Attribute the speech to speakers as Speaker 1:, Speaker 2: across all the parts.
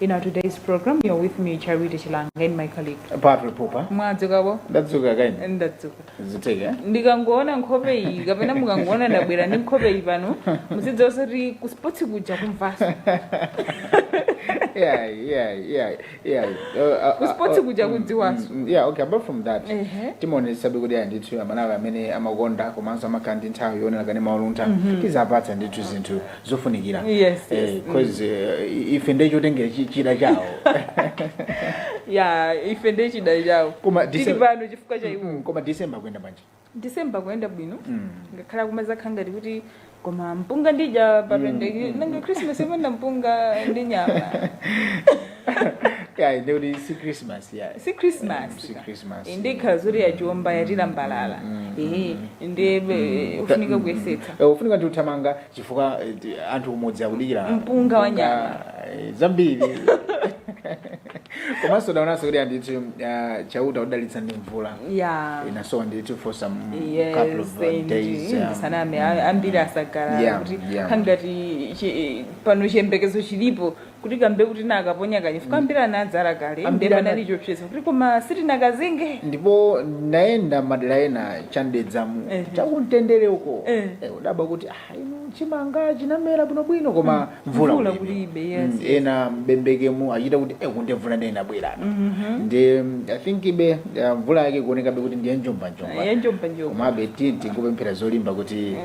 Speaker 1: In our today's program, you're with me, Charity Chilanga, and my colleague. Patrick Popa. Mwadzuka bwanji? Ndadzuka kaya inu. Ndadzuka. Ziteke. Ndikangoona nkhope iyi kapena mukangoona ndabwera ndi nkhope iyi pano muzidziwa zoti ku sports kuja kumvaso yeah, yeah, yeah, yeah. Uh, uh, Ku sports uh, kuja mm, kudziwaso. mm, mm, yeah, okay, apart from that. Ehe. Timaonetsetsa kuti ya ndithu amalawi amene amakonda komanso amakhala ndi nthawi yoonera kanema wa Luntha. Tiziwapatsa ndithu zinthu zofunikira Yes, yes, Eh, mm. 'cause, eh, ife ndiye chotengera chi- chida chawo ya ife ndiye chida chawo Koma tili December- pano chifukwa cha iwo Mm, koma december kuyenda bwanji december kuyenda bwino Mm. ngakhale kumazakhala ngati kuti koma mpunga ndidya papendeki nanga christmas yopanda mpunga ndi nyama Yeah, ndikuti si christmas yeah. si christmas Mm, si Christmas. Eh, ndiye ikhala zoti yatiomba yatilambalala ehe ndiye eh, ufunika kuyesetsa Eh, ufunika ndi uthamanga chifukwa eh, ti- anthu kumudzi akudikira Mpunga wa nyama. eh, zambiri komanso taonanso kuti andithu ah, chauta watidalitsa ndi mvula ya inasowa ndithu for some couple of uh, days um, ndisaname ambiri asangalala Yeah, kuti yeah. kukhala ngati chi- pano chiyembekezo chilipo kuti kambe kuti nakaponya kale chifukwa ambiri anadzala kale Ambiri ndipo ana- anali chopseza kuti koma sitinakazinge ndipo nayenda madera ena cha m'Dedzamu Ehe. chakumtendere uko Eh. Eh, kudabwa kuti ah, inu chimanga chinamera bwinobwino koma mvula Mvula kulibe. kulibe, yes, Mm, yes. ena mbembekemu achita kuti eh, kunde mvula ndiye inabwera ndi mm, i think ibe eh, mvula yake ikuonekabe kuti ndiye njombanjomba yanjombanjomba komabe tinti kupemphera zolimba kuti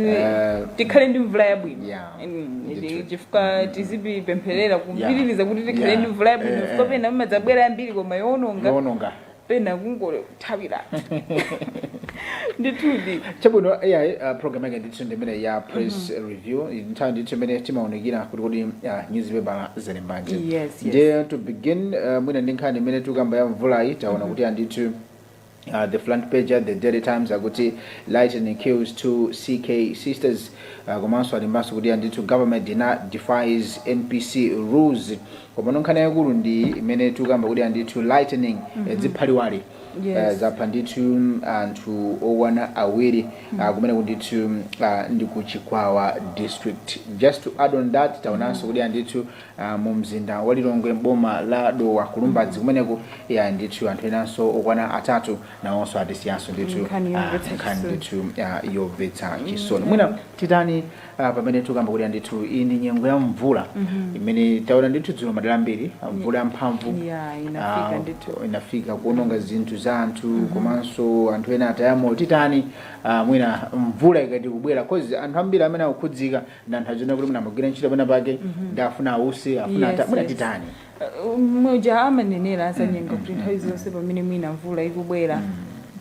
Speaker 1: eh, tikhale ndi mvula yabwino yeah. Ndithu. chifukwa tizipempherera kupitiriza kuti tikhale Yeah. ndi mvula yabwino Eh, chifukwa eh. pena imazabwera yambiri koma yowononga yowononga pena kungothawira ndithudi chabwino ai uh, program yake ndithu ndimene ya press review nthawi ndithu imene timaunikira kuti kodi uh, newspaper alembanji Yes, yes. ndiye to begin uh, mwina ndi nkhani imene tikamba ya mvulayi taona kuti andithu Uh, the front page ya the Daily Times akuti lightning kills two CK sisters uh, komanso alembanso kuti andithu government ina defies MPC rules komano nkhani yaikulu ndi imene tikukamba kuti andithu lightning mm -hmm. ziphaliwali Yes. uh, zapha ndithu anthu okwana awiri uh, kumene kundithu uh, ndi ku chikwawa district just to add on that taonanso kuti andithu ah, mu mzinda wa Lilongwe m'boma la Dowa ku Lumbadzi kumeneko a ndithu anthu enanso okwana atatu nawonso atisiyanso ndithu Nkhani ah, yomvetsa nkhani chisoni. ndithu ah, yomvetsa chisoni mwina titani ah, pamene tikamba kuti ndithu iyi ndi nyengo ya mvula imene taona ndithu dzulo madera ambiri ah, mvula yamphamvu Yeah, inafika ah, ndithu. inafika kuononga zinthu za anthu komanso anthu ena ataya moyo titani ah, mwina mvula ikati kubwera cause anthu ambiri amene akukhudzidwa nthawi zina kuti mwina amagwira ntchito pena pake ndi afuna ause afuna Yes, atatitani mwina yes. Uh, muja amanenera azanyenga kuti nthawi zonse pamene mwina mvula ikubwera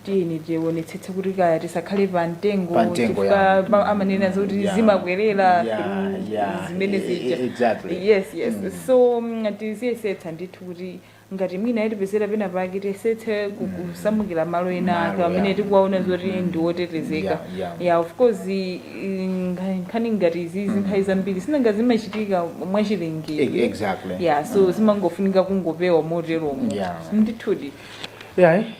Speaker 1: tiyeni tionetsetse kuti kaya tisakhale pa mtengo Pa mtengo, chifukwa yeah. pa- amanenera zoti Yeah. zimakwerera Yeah, through yeah. zimene E- e- zija exactly. yes yes so mm, tiziyesetsa ndithu kuti ngati mwina yatipezera pena pake tiyesetse ku- Mm. kusamukira malo ena Malo, ake amene yeah. tikuwaona zoti Mm. ndi otetezeka Yeah, yeah. ya of course i- i- nkha- nkhani ngati zizi nthawi zambiri sinanga zimachitika E- mwachilengedwe exactly ya so zimangofunika kungopewa moteromo Yeah. ndithudi yayi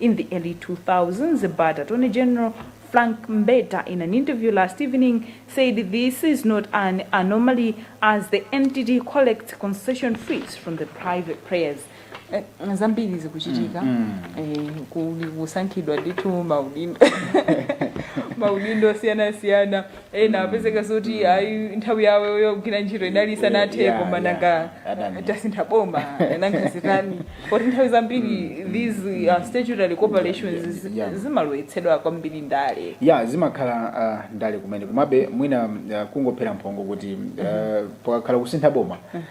Speaker 1: In the early 2000s, but Attorney General, Frank Mbeta, in an interview last evening, said this is not an anomaly as the entity collects concession fees from the private players. Eh, zambiri zikuchitika eh, kuli kusankhidwa ndithu maudindo maudindo osiyanasiyana ena apezeka zoti ayi nthawi yawo yogwira ntchito inali isanathe Yeah, koma yeah. nanga Adani. tasintha boma nanga zitani poti nthawi zambiri these uh, statutory corporations zi- Yeah. zimalowetsedwa kwambiri ndale ya zimakhala uh, ndale kumene komabe mwina uh, kungophera mphongo kuti uh, pakakhala kusintha boma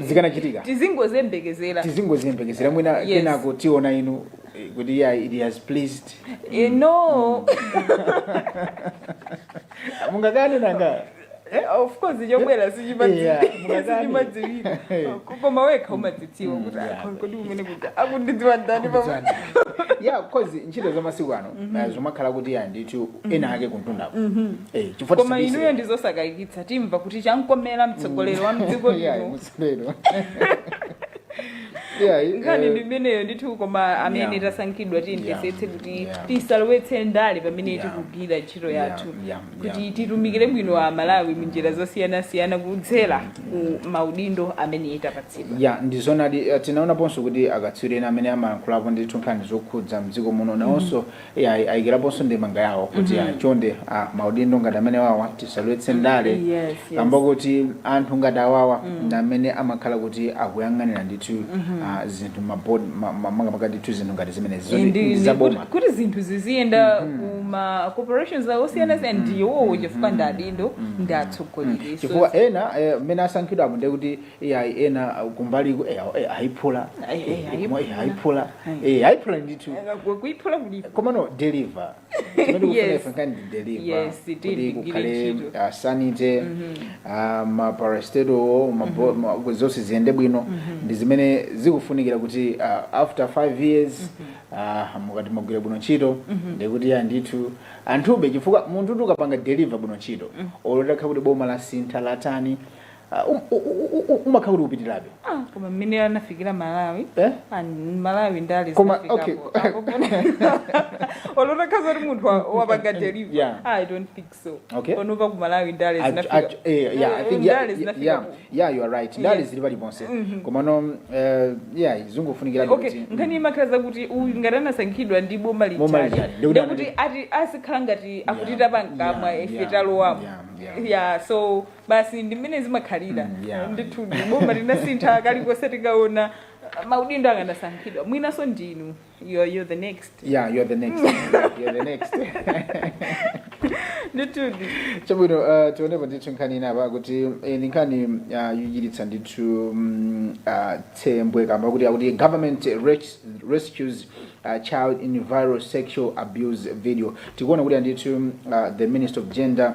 Speaker 1: zikanachitika tizingoyembekezera tizingoziyembekezera mwina Yes. kenako tiona inu eh, kuti yeah, it has pleased Eh, no mungakane nanga Eh, of course chobwera Yeah, mungakani. sichimadziwika koma wekha umadzidziwa kuti yeah. akho- kodi mmene kuti akundidziwa ndani pamwe ya kozi ntchito za masiku ano eh, zomakhala kuti ya ndithu ena ake kumtundako Eh, chifukwa koma tisabise inuyo ndizosakayikitsa timva kuti chamkomera mtsogoleri wa mdziko Yeah, lino mutsogolero. Yeah, eh, nkhani ndi imeneyo ndithu koma amene Yeah. tasankhidwa tiyesetse kuti Yeah. tisalowetse ndale pamene Yeah. tikugwira ntchito Yeah, yathu yeah, kuti yeah. titumikire bwino a malawi munjira zosiyanasiyana kudzera ku maudindo amene tapatsidwa ya ndizonadi eh, tinaonaponso kuti akatswiri ena amene amalankhulapo ndithu nkhani zokhudza mdziko muno nawonso Iya ayikiraponso ndemanga yawo kuti mm -hmm. chonde ah, maudindo ngati amenewawa tisalowetse ndale yes, yes. kamba kuti anthu ngati awawa mm. ndi amene amakhala kuti akuyang'anira ndithu mm -hmm. ah, zinthu makamaka ndithu zinthu ngati zimenezi ndi zaboma kuti zinthu ziziyenda mm -hmm. kuma corporations awo osiyana siyana ndi iwowo chifukwa ndi adindo ndi atsogoleri chifukwa ena mmene asankhidwapo ndi kuti Eh, ayi ena uh, kumbaliku eh, awo, eh, ayiphula Ayi, eh, Eh, ayiphula. eh, ayiphula Ayi. Eh, ayiphula ndithu kuiphula kulipo komano deliver Yes. kani deliver Yes, it did. Kuti kukhale Ngiri ntchito. uh, sanite uh, maparastatal mabo- ma- kuti zonse ziyende bwino ndi zimene zikufunikira kuti uh, after five years uh, mukati mugwire bwino ntchito ndikuti ayi ndithu anthuwo chifukwa munthu uti ukapanga deliver bwino ntchito olo utakhala kuti boma lasintha latani Ah, um- u- u- u- u- umakhala kuti upitirabe Ah, koma mmene anafikira Malawi Eh? Ah, Malawi ndale Koma, okay. olo utakhala zoti munthu wa- wapanga Yeah. deliver Ah, I don't think so Okay. panopa ku Malawi ndale Ach- ach- zinafika eh, yeah, I think, yeah, ndale yeah, zinafika yeah, ku- yeah, you are right ndale Yeah. zili paliponse komano eh, yeah zungofunikira okay nkhani imakhala zakuti uyu ngati anasankhidwa ndi boma Boma lichali lichali. Ndikuti ndekuti anali- ati azikhala ngati akutita pankamwa Yeah, ife yeah, talowamo yeah, yeah. yeah so basi ndi mmene zimakhalira Mm, yeah. ndithu ndi boma tinasintha kalikonse tikaona maudindo akanasankhidwa mwinanso ndinu you are, you are the next yeah you're the next you're the next ndithu chabwino uh, tionepa ndithu nkhani inapa kuti eh, ndi nkhani uh, yochititsa ndithu mm, uh, tsembwe kamba koti akuti government res- rescues uh, child in viral sexual abuse video tikuona kuti andithu uh, the minister of gender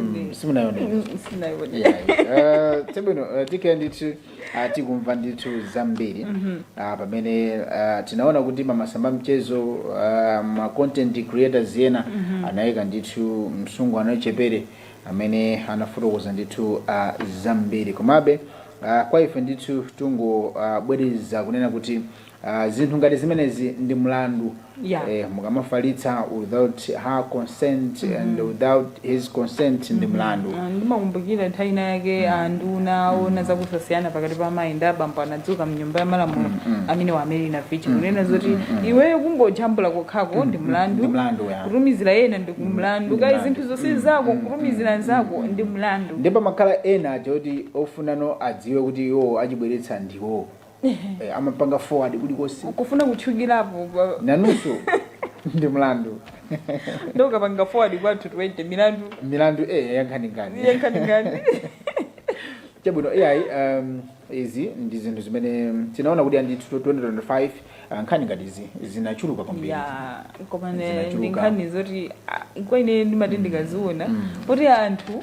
Speaker 1: Mm, simunayonere Yeah, uh, chabwino uh, tikhale ndithu uh, tikumva ndithu zambiri uh, pamene uh, tinaona kuti m'masamba a mchezo uh, ma content creators ena anayika ndithu msungwana wachichepere amene anafotokoza ndithu uh, zambiri komabe uh, kwa ife ndithu tungobwereza uh, kunena kuti Aaa zinthu ngati zimenezi ndi mlandu Yeah. eh, mukamafalitsa without her consent and without his consent ndi mlandu Ah, ndimakumbukira nthawi ina yake anduna ona zakusasiyana pakati pa amayi ndi abambo anadzuka mnyumba ya malamulo amene wa a Mary Navicha kunena zoti iweyo kungojambula kokhako ndi mlandu Ndi mlandu, yeah. kutumizira wina ndi mlandu kale mlandu. zinthu zonse zako kutumizira nzako ndi mlandu ndipo pamakhala ena aja oti ofuna anthu adziwe kuti iwo achibweretsa ndiwo eh, amapanga forward kulikonse kufuna kutchukilapo pa- nawonso ndi mlandu nde ukapanga forward kwa anthu 20 milandu milandu eh, yankhaninkhani yankhaninkhani chabwino ayi um, izi ndi zinthu zimene tinaona kuti andithu 2025 uh, nkhani ngati izi zinachuluka kwambiri ya komano Zinachuluka. ndi nkhani zoti ah, kwa ine ndimati ndikaziona kuti anthu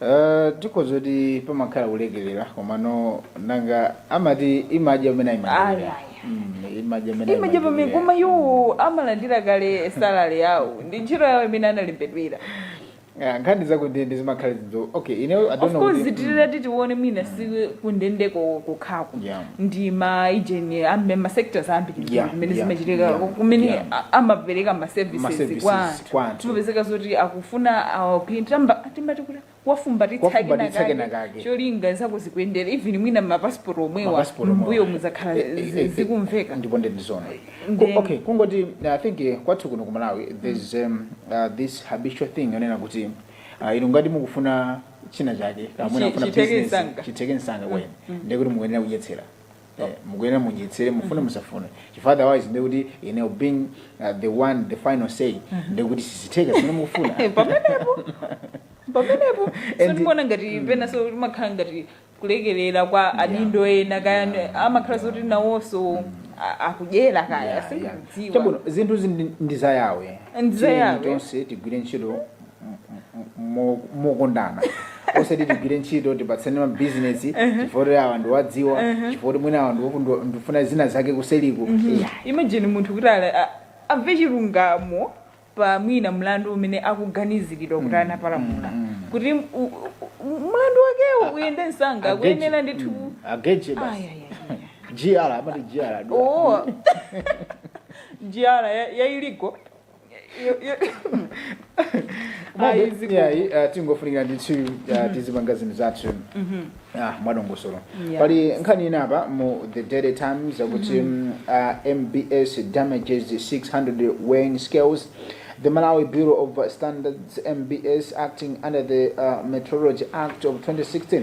Speaker 1: Uh, tikhoza kunena kuti pamakhala kulekelera komano nanga amati imadya umene ayimadya imadya umene imadya pamene koma iwo amalandira kale salary yawo ndi ntchito yawo imene analembedwera Ah, nkhani zakundende zimakhala zidzo okay you know i don't of know course kuti- zitirira titione mwina si kundende ko- kokhako Yeah. ndi maujeni ena ma sectors ambiri Yeah, kumene yeah, zimachitika yeah, kumene yeah. amapereka ma services services kwa anthu kwa anthu. zimapezeka zoti akufuna awapintamba timati kuti wafumbatitsa Wafumbatitsa kena kena kake. kake cholinga zako zikuyendera even mwina mapasipoti omwewa Mapasipoti omwewa. m'mbuyomuja Eh, eh, zi- eh, zikumveka ndipo ndi ndizona Then- okay kungoti i think eh, kwathu kuno ku malawi there's um, uh, this habitual thing yonena kuti uh, inu ngati mukufuna china chake Chi- mwina mufuna chitheke business, msanga. chitheke msanga then ndikuti mukuyenera kudyetsera Eh, mukuyenera mudyetsere mufune musafune chifukwa otherwise ndi kuti you know being uh, the one the final say ndi kuti sizitheka zimene mukufuna Eh, pamenepo pamenepo And- sindikuona ngati penanso zimakhala ngati kulekerera kwa adindo ena kaya amakhala zoti nawonso a- akudyera kaya Yeah, yeah. sindikudziwa Chabwino, zinthu zi ndi- ndi za Yahweh Ndi za Tiyeni Yahweh. tonse tigwire ntchito mo- mokondana osati tigwire ntchito tipatsane mabizinesi chifukwa choti awa ndikuwadziwa chifukwa choti mwina awa ndiwoku- ndiwo- ndifuna zina zake kuseriku Yeah. imagine munthu kuti ali- a- amve chilungamo pa mwina mlandu umene akuganiziridwa kuti anapalamula kuti u- u- u- mlandu wakewo uyende msanga Ageji. akuyenera ndithu Mm. Ageji Ay, basi. ay, ay, ay. GR amati GR. Oh. GR ya- ya illegal uh, zingofunikira ndithu uh, tizipanga zinthu zathu ah, mwadongosolo Yeah. pali nkhani ina apa mu the daily times akuti mm, uh, mbs damages 600 weighing scales the malawi bureau of standards mbs acting under the uh, metrology act of 2016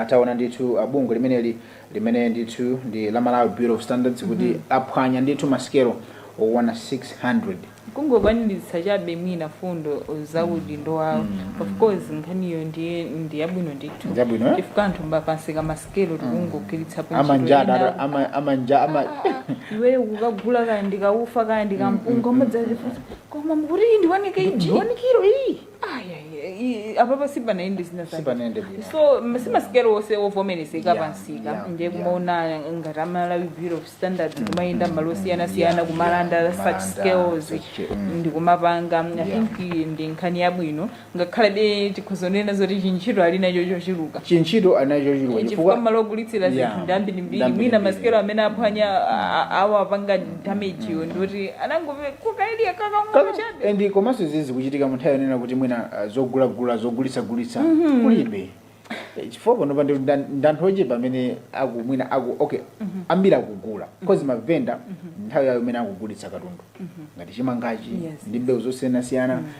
Speaker 1: atauna ndithu uh, bungwe limeneli limene ndithu ndi la malawi bureau of standards kuti aphwanya ndithu masikelo okwana 600 kungokwaniritsa chabe mwina fundo zaudindo wawo of course nkhaniyo ndiye ndi yabwino ndithu Ndi yabwino, eh? chifukwa anthu pamsika masikelo tikungogwiritsa amanja adaro- ama- amanja ama iweyo kukagula kaya ndikaufa kaya ndikampunga umadzadzifunsa koma mukuti iyi ndi one kg ndi one kilo iyi Ayayi, apapa sipanayende zina zake. sipanende bwino so m- simasikelo onse ovomerezeka Yeah, pamsika yeah, ndiye yeah. kumaona ngati amalawi bureau of standards kumayenda malo osiyanasiyana Yeah, kumalanda yeah, such kumalanda, scales such, mm. ndi kumapanga i Yeah. think iyi ndi nkhani yabwino ngakhalebe tikhoza kunena zoti chintchito ali nacho chochuluka chintchito ali nacho chochuluka chifukwa malo ogulitsira Yeah, zinthu ndi ambirimbiri ndambirimbiri. mwina masikelo amene aphwanya a- a- awapanga damage yo ndoti anangove kukaidwa kakang'ono chabe and komanso izi zikuchitika munthawi yonena kuti mwina ah, zogulagula zogulitsagulitsa kulibe Eh, chifukwa panopa ndi nda- ndanthu ochepa amene aku mwina aku okay ambiri akugula because mavenda nthawi yawo imene akugulitsa katundu ngati chimangachi Yes, ndi mbewu zosiyanasiyana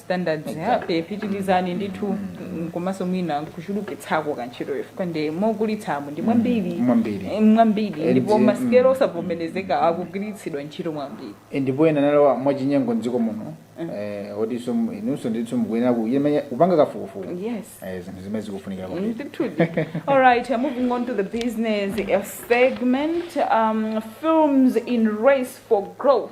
Speaker 1: standards ya pe pitilizani ndithu komanso mwina kuchulukitsako kantchitoyo chifukwa ndi mogulitsamo ndi mwambiri Mwambiri. Eh, mwambiri Eh, ndipo ndi- masikelo osavomerezeka akugwiritsidwa ntchito mwambiri ndipo ena analowa mwachinyengo mdziko muno eh, otinso mu- inunso ndithu mukuyenera kuyemenya kupanga kafukufuku yes Eh, zinthu zimene zikufunikira kwambiri Indeed. All right, uh, moving on to the business uh, segment. Um, films in race for growth.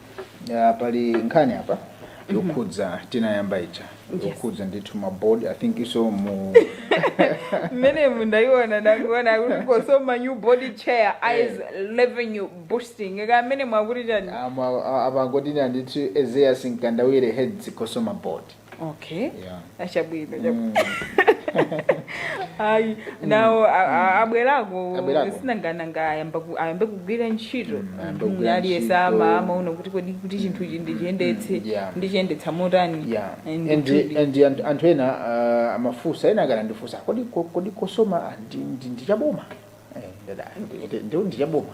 Speaker 1: Ya, pali nkhani apa yokhudza tinayamba ija yokhudza ndithu mabodi i think inunso mu mmene mundayiona ndakuona kuti COSOMA new board chair eyes revenue boosting kamene mwakuti chani Ama- a- apangoti ndithu Ezaius Mkandawire heads COSOMA board okay Yeah. achabwino Mm. ayi nawo a- a- abwerako Abwerako. sinangananga ayamba ku- ayambe kugwira ntchito Mm, ayambe kugwira Mm, aliyese ntchito. amaona kuti kodi kuti chinthuchi ndichiyendetse Yeah. ndichiyendetsa motani yeah And and kuti- and and anthu ena uh, amafunsa ena akanandifunsa kodi ko- kodi COSOMA ah, ndi- ndi- ndichaboma Eh, ndada, ndi- ndi- ndichaboma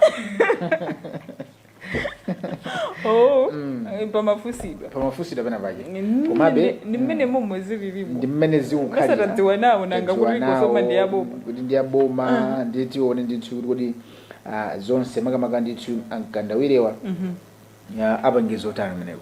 Speaker 1: oh Mm. eh, pamafunsidwa pamafunsidwa pena pache Ndi- komabe ndi mmene momwe zilili ndi mmene zikukhalira Osatadziwa nawo nanga Tadziwa kuti nawo, COSOMA ndi yaboma kuti ndi yaboma ndiye tione ndithu kuti kodi ah, zonse makamaka ndithu a Mkandawirewa apanga zo otani kumeneko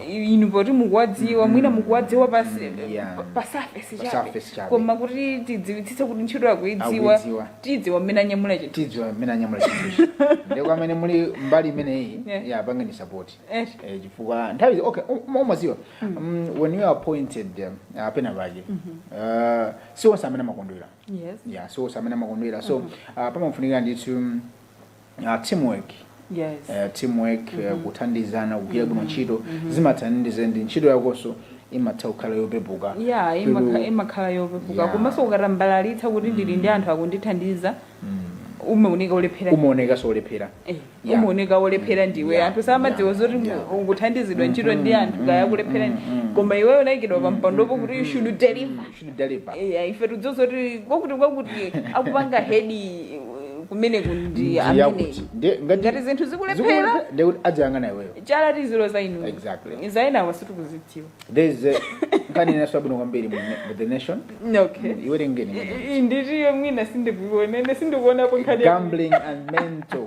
Speaker 1: Eh, inu poti mukuwadziwa mwina mukuwadziwa pasi Yeah. pa- pa surface Pa chabe surface chabe. koma kuti tidziwitsitse kuti ntchito akuidziwa Akuidziwa. tidziwa mmene anyamula chinthu tidziwa mmene anyamula chinthuchi ndipo pamene muli mbali imeneyi Yeah. ya apangeni support Eh. Eh, chifukwa nthawi zi- okay um- umadziwa Mm, when you are appointed um, apena pake uh, si onse amene amakondwera yes yeah si onse amene amakondwera so uh, pamafunikira ndithu mm, uh, teamwork yes. uh, teamwork mm -hmm. uh, mhm. kuthandizana kugwira bwino mhm. ntchito mm -hmm. zimathandiza ndi ntchito yakonso imatha kukhala yopepuka ya yeah, imakhala yopepuka yeah. komanso ukatambalalitsa kuti ndili ndi mm. anthu akundithandiza mm. umaoneka olephera umaoneka olephera eh, yeah. umaoneka olephera mm. ndiwe yeah. anthu samadziwa yeah. zoti yeah. ukuthandizidwa mm-hmm. ntchito ndi anthu mm-hmm. akulephera mm-hmm. koma iweyo unaikidwa pa mpandopo kuti you should deliver to deliver. Eya, ife tidziwa kuti kwakuti kwakuti akupanga hedi eh, kumeneko ndi Ndi amene yakuti. Ndi- ngati- ngati zinthu zikulephera zikulephera, ndi kuti azidzayang'ana iweyo chala tiziloza inu Exactly. za enawa sitikuzidziwa there is a- nkhani inanso yabwino kwambiri mu mu the nation okay iwerengeni I- i- nditiyo mwina sindikuiona ine sindikuonapo nkhani ya- gambling and mental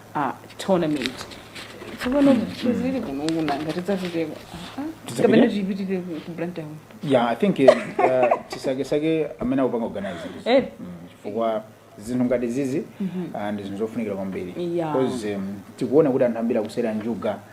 Speaker 1: a tournament tsopano zizili kuno kuna ngati zatuteko Tidzapite? kapena tipitire ku ku blantyre yeah i think uh, tisake-sake amene akupanga organize izi. Eh. Mm, chifukwa zinthu ngati zizi ah, ndi zinthu zofunikira kwambiri Yeah. because um, tikuona kuti anthu ambiri akusewera njuga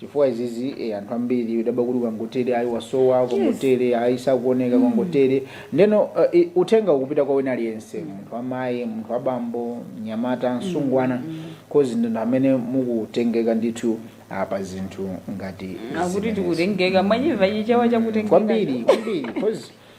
Speaker 1: chifukwa izizi eh, anthu ambiri akudabwa kuti kwangotere ayi wasowa kwangotere ayi sakuoneka kwangotere ndeno uh, i- uthenga ukupita kwa wina aliyense munthu wamayi munthu wabambo mnyamata mtsikana kodi ndinu amene mukutengeka ndithu pa zinthu ngati akuti zimenezi. kutengeka mwachimva chichewa chakutengeka kwambiri kwambiri kozi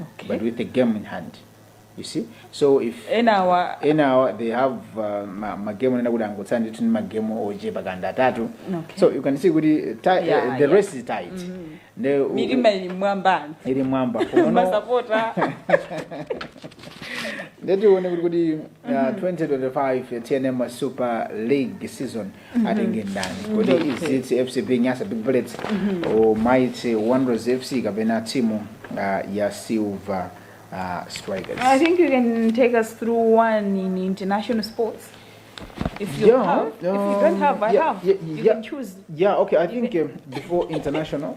Speaker 1: Okay. but with the game in hand you see so if enawa enawa they have uh, ma- magemu onena kuti angotsala ndithu ndi magemu ochepa kaya ndi atatu Okay. so you can see kuti uh, ti- Yeah, uh, the yeah. race is tight Nde u- mitima ili m'mwamba ili m'mwamba Unono- masapota nde tione kuti kuti uh, 2025 tnm super league season atenge ndani kodi Okay. izitsi fcb nyasa big bullets o mighty wanderers fc kapena timu ah, ya silver ah, strikers I think you can take us through one in international sports. If you Yeah, have, if you don't um, have, I yeah, have. yeah, you yeah. can choose. Yeah, okay. I think um, before international,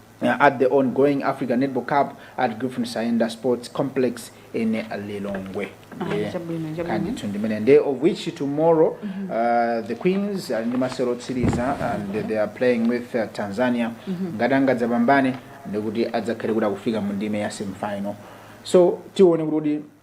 Speaker 1: at the on going Africa Netball Cup at Griffin Saenda Sports Complex in Lilongwe. Ah, yeah. Chabwino, chabwino. Kandi tsono ndi mmene nde of which tomorrow uh, the Queens ali ndi masewero otsiriza and they are playing with uh, Tanzania ngati angadzapambane nde kuti adzakhale kuti akufika mu ndime ya semifinal so tione kuti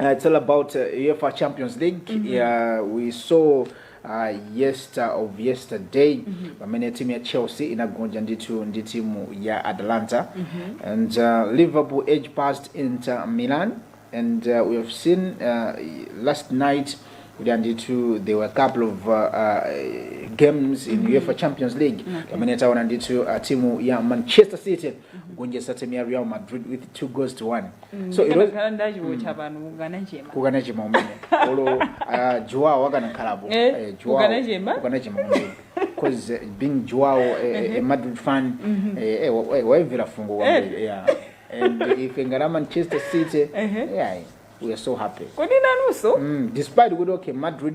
Speaker 1: Uh, it's all about uh, UEFA Champions League. Yeah, we saw uh, yester of yesterday pamene timu ya Chelsea inagonja ndithu ndi timu ya Atalanta and uh, Liverpool edge past Inter Milan and uh, we have seen uh, last night kuti andithu there were a couple of uh, uh, games in UEFA Champions League pamene taona ndithu uh, timu ya Manchester City kugonjetsa timu ya Real Madrid with two goals to one so ilo ikanakhala ndachiwotcha pano kukanachema kukanachema mmene olo ah, Joao akanakhalapo Eh, Eh, Joao- kukanachema? kukanachema mmene because eh, being Joao a madrid fan eh, eh, wa- eh, waimvera fungo kwambiri yeah. and ife ngati a manchester city Ehe. yeah, we are so happy kodi nanunso mm, despite kuti okay madrid